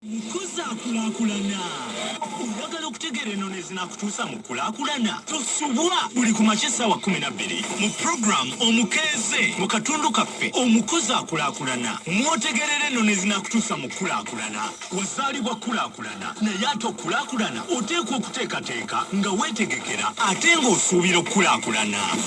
Nkuzaakulakulana. Oyagala okutegeera ennono ezinaakutuusa mu kulaakulana? Tosubwa buli ku makya essaawa kkumi na bbiri mu pulogulaamu Omukeeze mu katundu kaffe Omukuzaakulakulana mw'otegeerera ennono ezinaakutuusa mu kulaakulana. Wazaalibwa kulaakulana naye ate okulaakulana oteekwa okuteekateeka nga weetegekera ate ng'osuubira okukulaakulana.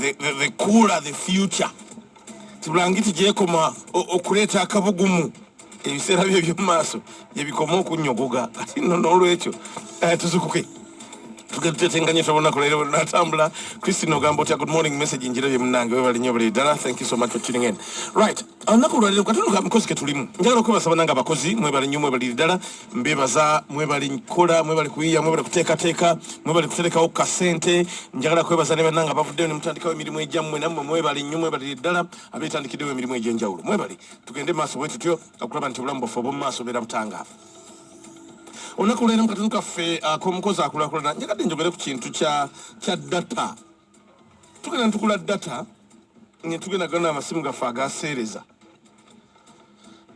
the, the, the cooler the future tibulangiti gyekoma okuleeta akabugumu ebiseera byo ebyomumaaso gyebikoma okunyogoga ati no nolwekyo eh, tuzukuke tugetutetenganye tobonako leero natambula christine ogamba otya good morning message njira bye munange webali nyo buli ddala thank you so much for tuning in right olunaku olwaleero katunuka mikozi ketulimu njagala okwebasaba nange abakozi mwebali nyo mwebali ddala mbebaza mwebali nkola mwebali kuyiya mwebali kuteekateeka mwebali kuterekawo kasente njagala kwebaza ne bannange abavuddeyo ne mutandikawo emirimu egyammwe nammwe mwebali nnyo mwebalire ddala abeetandikiddewo emirimu egy'enjawulo mwebali tugende maaso bwe tutyo okulaba nti obulamu bwaffe obwomu maaso beera butangaavu olunaku lwera mu katunu kaffe ak'omukozi akulakulana njagadde njogere ku kintu kya data tugenda tukula data nga tugenda gana amasimu gaffe agaseereza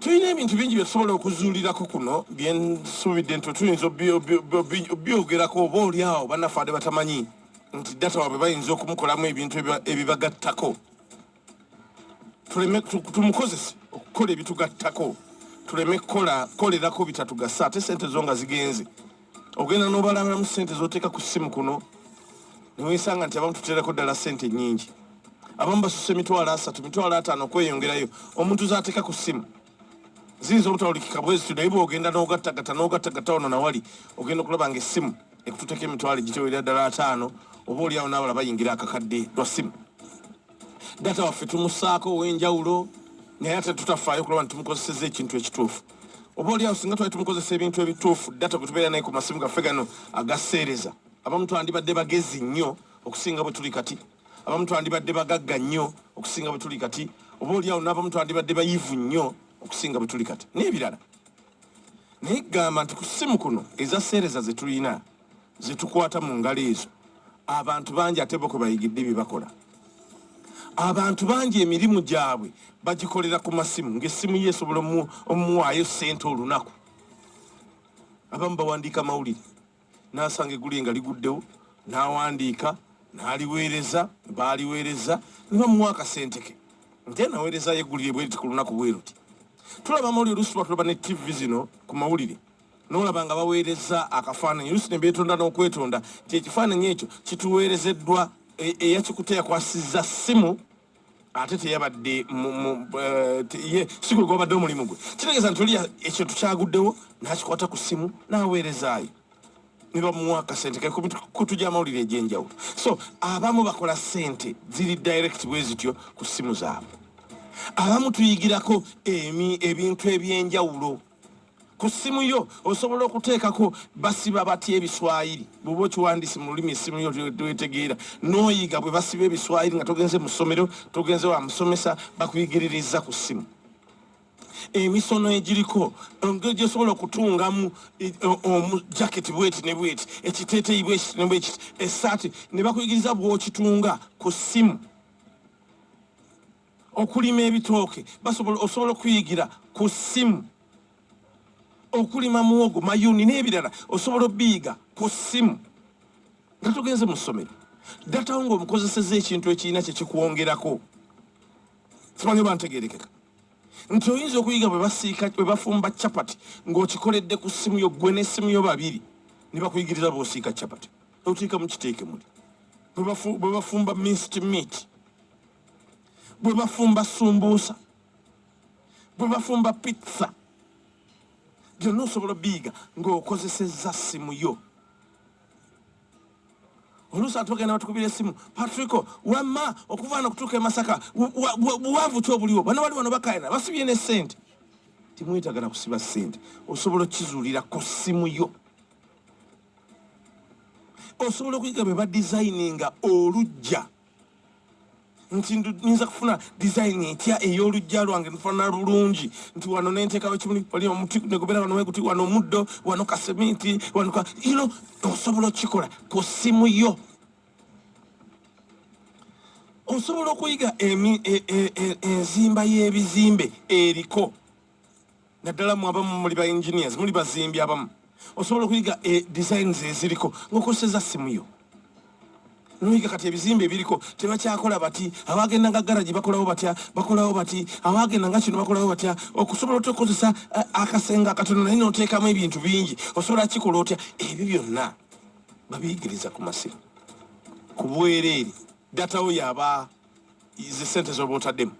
tulina ebintu bingi byetusobola okuzuulirako kuno byensuubidde nti tuyinza obyogerako oba oli awo banafaade batamanyi nti data wabwe bayinza okumukolamu ebintu ebibagattako tuleme tumukozese okukola ebitugattako tuleme kukolerako bitatugasa ate sente zo nga zigenze ogenda nobalangiramu sente zoteeka ku simu kuno newesanga nti abamu tuterako ddala sente nyingi abamu basusa emitwalo asatu mitwalo ataano okweyongerayo omuntu zateeka ku simu ziyinza obutawulikika bwezitu naye bwogenda nogattagata nogattagata ono nawali ogenda okulaba nga essimu ekututeko emitwalo egitewera ddala ataano oba oliawo nabala bayingira akakadde lwa simu data waffe tumusaako ow'enjawulo naye ate tutafaayo kulaba nti tumukozeseza ekintu ekituufu oba oliawo singa twali tumukozesa ebintu ebituufu data bwe tubeera naye ku masimu gaffe gano agaseereza abamu twandibadde bagezi nnyo okusinga bwe tuli kati abamu twandibadde bagagga nnyo okusinga bwe tuli kati oba oliawo n'abamu twandibadde bayivu nnyo okusinga bwe tuli kati n'ebirala naye gamba nti ku simu kuno ezaseereza ze tulina zitukwata mu ngalo ezo abantu bangi ate boko bayigidde bye bakola abantu bangi emirimu gyabwe bagikolera ku masimu ng'essimu ye esobola omuwaayo ssente olunaku abamu bawandiika mawulire n'asanga egguli nga liguddewo n'awandiika n'aliweereza baaliweereza ne bamuwa akasente ke nte naweerezayo eggulire bweriti ku lunaku bweruti tulaba amawulire olusuba tulaba ne ttivi zino ku mawulire n'olaba nga baweereza akafaananyi olusi ne beetonda n'okwetonda nti ekifaananyi ekyo kituweerezeddwa e, eyakikuta yakwasizza ssimu ate teyabadde eh, si gwe gwabadde omulimu gwe kitegeeza nti oli ekyo tukyaguddewo n'akikwata ku ssimu n'aweerezaayo ne bamuwa akasente kekutu gy'amawulire egy'enjawulo so abamu bakola ssente ziri direct bwe zityo ku ssimu zaabwe abamu tuyigirako ebintu eby'enjawulo e ku ssimu yo osobola okuteekako basiba batya ebiswayiri bwoba okiwandisi mu lulimi essimu yo twetegeera n'oyiga bwe basiba ebiswayiri nga togenze mu ssomero togenze wa musomesa bakuyigiririza ku ssimu emisono egiriko engeri gyesobola okutungamu e, e, omujaketi bweti ne bweti ekiteeteyi bwekiti ne bwekiti esaati ne bakuyigiriza bwokitunga ku ssimu okulima ebitooke basobola osobola okuyigira ku ssimu okulima muwogo mayuni n'ebirala osobola obiyiga ku ssimu nga tugenze mu ssomero datawo nga omukozeseza ekintu ekirina kyekikwongerako simanyi oba ntegerekeka nti oyinza okuyiga bwebasiika bwebafumba capati ng'okikoledde ku ssimu yo gwe n'essimu yo babiri ne bakuyigiriza bwosiika capati otiika mu kiteekemuli bwebafumba minst meat bwe bafumba sumbuusa bwe bafumba pizza byonna osobola biyiga ng'okozesezza ssimu yo oluusi ati bagenda batukubira essimu patrico wamma okuvaana okutuuka e masaka buwanvu ki obuliwo bano bali wano bakayana basibye ne ssente temwetagana kusiba ssente osobola okizuulira ku ssimu yo osobola okuyiga bwe badizayininga olujja nti nyinza kufuna design etya ey'olujja lwange nfana bulungi nti wano nentekawo kimuli oli omuti negobera wano weguti wano omuddo wano kaseminti wano ka you know osobola okukikola ku ssimu yo osobola okuyiga e, e, e, enzimba y'ebizimbe eriko naddala mu abamu muli ba engineers muli bazimbi abamu osobola okuyiga e designs eziriko ngaokozeseza simu yo noyiga kati ebizimbe ebiriko tebakyakola bati abagenda nga garagi bakolawo batya bakolawo bati abagenda nga kino bakolawo batya okusobola otya okukozesa eh, akasenga akatono naye noteekamu ebintu bingi osobola kikola otya ebyo byonna babiyigiriza ku masimu ku bwereere datawo yaba ze sente zoba otaddemu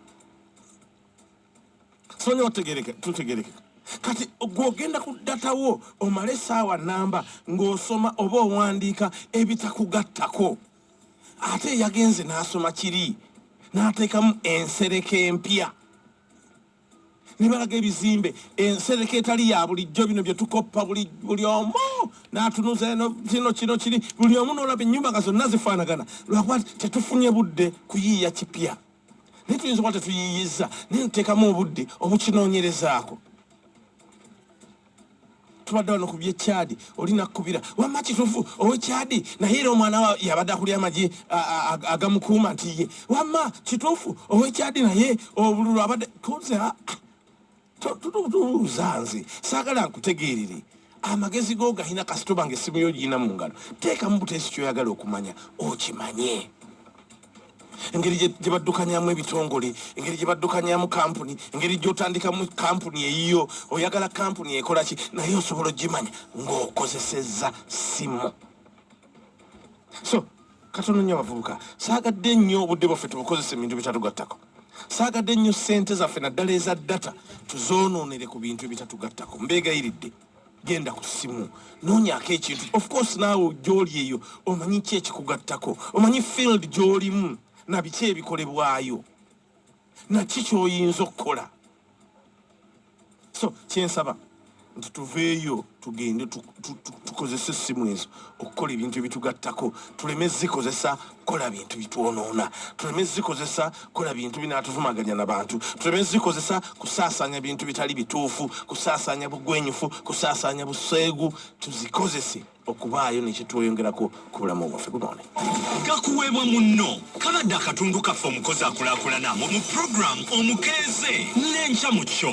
sonyiwa tutegereke tutegereke kati gwogenda ku data wo omale esaawa namba ng'osoma oba owandiika ebitakugattako ate eyagenze n'asoma kiri n'ateekamu ensereka empya nebalaga ebizimbe ensereka etali ya bulijjo bino byetukoppa buli omu natunuza eno kino kino kiri buli omu nolaba enyumba nga zonna zifanagana lwakuba tetufunye budde kuyiiya kipya naye tuyinza kuba tetuyiiyizza naye tuteekamu obudde obukinoonyerezaako tubadde wano ku byekyadi oli nakukubira wamma kitufu owekyadi naye era omwana wa yabadde akulya amagi agamukuuma nti ye wamma kitufu owekyadi naye obululu abadde tuze tubuuza nze saagala nkutegeerere amagezi go galina kasita obanga essimu yo girina mu ngalo teekamu buteesi kyoyagala okumanya okimanye engeri gye baddukanyamu ebitongole engeri gye baddukanyamu kampuni engeri gyotandikamu kampuni eyiyo oyagala kampuni ekola ki naye osobola ogimanya ng'okozesezza simu so katono nnyo abavubuka saagadde nnyo obudde bwaffe tubukozesa ebintu bitatugattako saagadde nnyo ssente zaffe naddala eza data tuzoonoonere ku bintu ebitatugattako mbeegayiridde genda ku ssimu noonyako ekintu of course naawe gyoli eyo omanyi ki ekikugattako omanyi field gyolimu nabiki ebikolebwayo naki kyoyinza okukola so kyensaba nti tuveeyo tugende tukozesa essimu ezo okukola ebintu ebitugattako tuleme zikozesa kukola bintu bitwonoona tuleme zikozesa kukola bintu binatuvumaganya na bantu tuleme zikozesa kusaasanya bintu bitali bituufu kusaasanya bugwenyufu kusaasanya buseegu tuzikozese okubaayo nekitweyongerako ku bulamu bwaffe gunoone gakuweebwa munno kabadde akatundu kaffe omukozi akulakulana mu puroguramu omukeeze n'enkya mu kyo